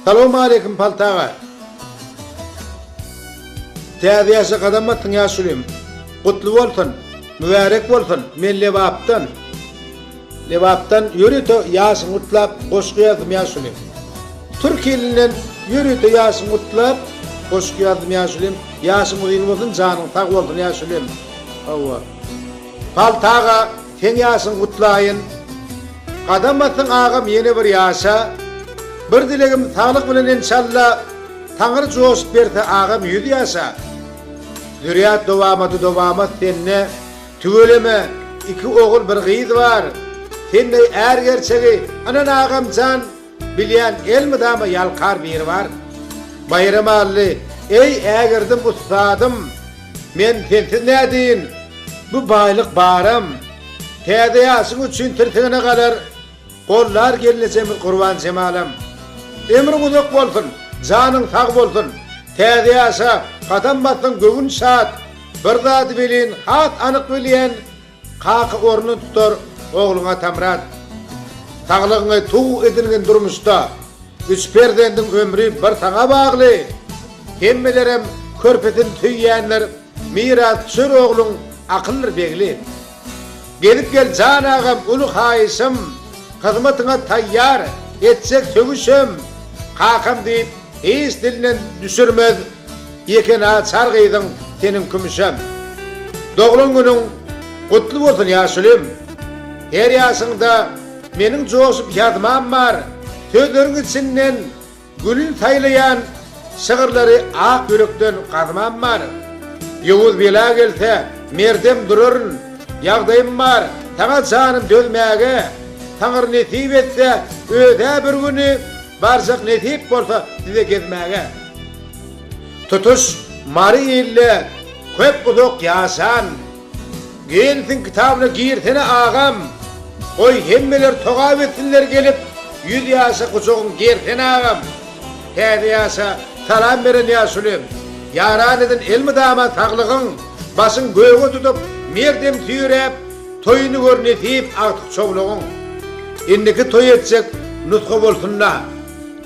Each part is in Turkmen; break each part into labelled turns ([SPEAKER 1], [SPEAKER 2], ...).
[SPEAKER 1] Salowmaleýkim Palt aga. Täze ýaşa gadam basdyň ýaşulim. Gutly bolsun. Mübärek bolsun. Men Lebapdan. Lebapdan ýörite ýaşyňy gutlap goşgy ýazdym ýaşulim. Türki ilinden ýörite ýaşyňy gutlap goşgy ýazdym ýaşulim. Ýaşyň uzyn bolsun janyň sag bolsun ýaşulim. Hawa. Palt aga Seň ýaşyň gutlaýyn. Gadam basyň agam ýene bir ýaşa. Bir dilegim saglyk bilen enşalla Taňyr joşup berse agam ýüz ýaşa. Zürýat dowamady dowamat sende tüweleme iki ogul bir gyz bar. Sendey är gerçegi ynan agamjan. Bilýän elmydama ýalkar biri bar. Baýramally, Eý, ägirdim ussadym, Men sensiz nädeýin, Bu baýlyk baram. Täze ýaşyň üçin tirsigine galar, Gollar gelnejemiz Gurbanjemalam. Ömrüň uzak bolsun, janyň sag bolsun, Täze ýaşa gadam bassaň göwün şat, Bir zady welin has anyk bilýän, Kaka ornun tutar ogluň Atamyrat. Saglygyňy tug edilgin durmuşda. Üç perzendiň ömri bir saňa bagly. Hemmelerem körpesin söýýänler miras düşer ogluň akyldyr begli. Gezip gel jan agam uly haýyşym hyzmatyňa taýýar etjek sögüşem kakam diýip hiç dilinden düşürmez. Ýeke naçar gyzyň seniň kümüşem. Doglan günüň gutly bolsun ýaşulim. Her ýaşyňda meniň joşup ýazmam bar. Sözleriň içinden gülün saýlaýan şygyrlary ak ýürekden gazmam bar. Ýowuz bela gelse merdem duraryn. Ýagdaýym bar saňa janym dözmäge. Taňry nesip etse özä bir güni. Barjak nesip bolsa size gezmäge. Tutuş Mary ilde köp uzak ýaşan. Gennsiň kitabyna girsene agam. Goý hemmeler togap etsinler gelip ýüz ýaşa gujagyň gersene agam. Täze ýaşa salam beren ýaşuly. Ýaran edin elmydama saglygyň. Başyň göge tutup merdem süýräp. Toýuny gör nesip agtyk çowlugyň. Indiki toý etjek nusga bolsunda.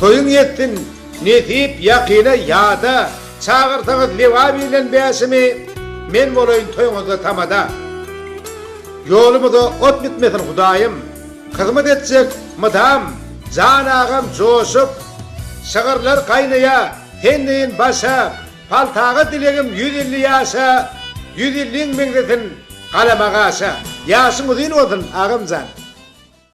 [SPEAKER 1] Toýuň ýetsin nesip ýakyna ýada. Çagyrsaňyz Lebap ile Bäşimi men bolaýyn toýuňyzda tamada. Ýolumyza ot bitmesin Hudaýym. Hyzmat etjek mydam Jan agam joşup. Şygyrlar gaýnaýa sen deýin başa. Paltaga dilegim ýüz elli ýaşa, Ýüz elliň meňzesin galama gaşa. Ýaşyň uzyn bolsun agamjan.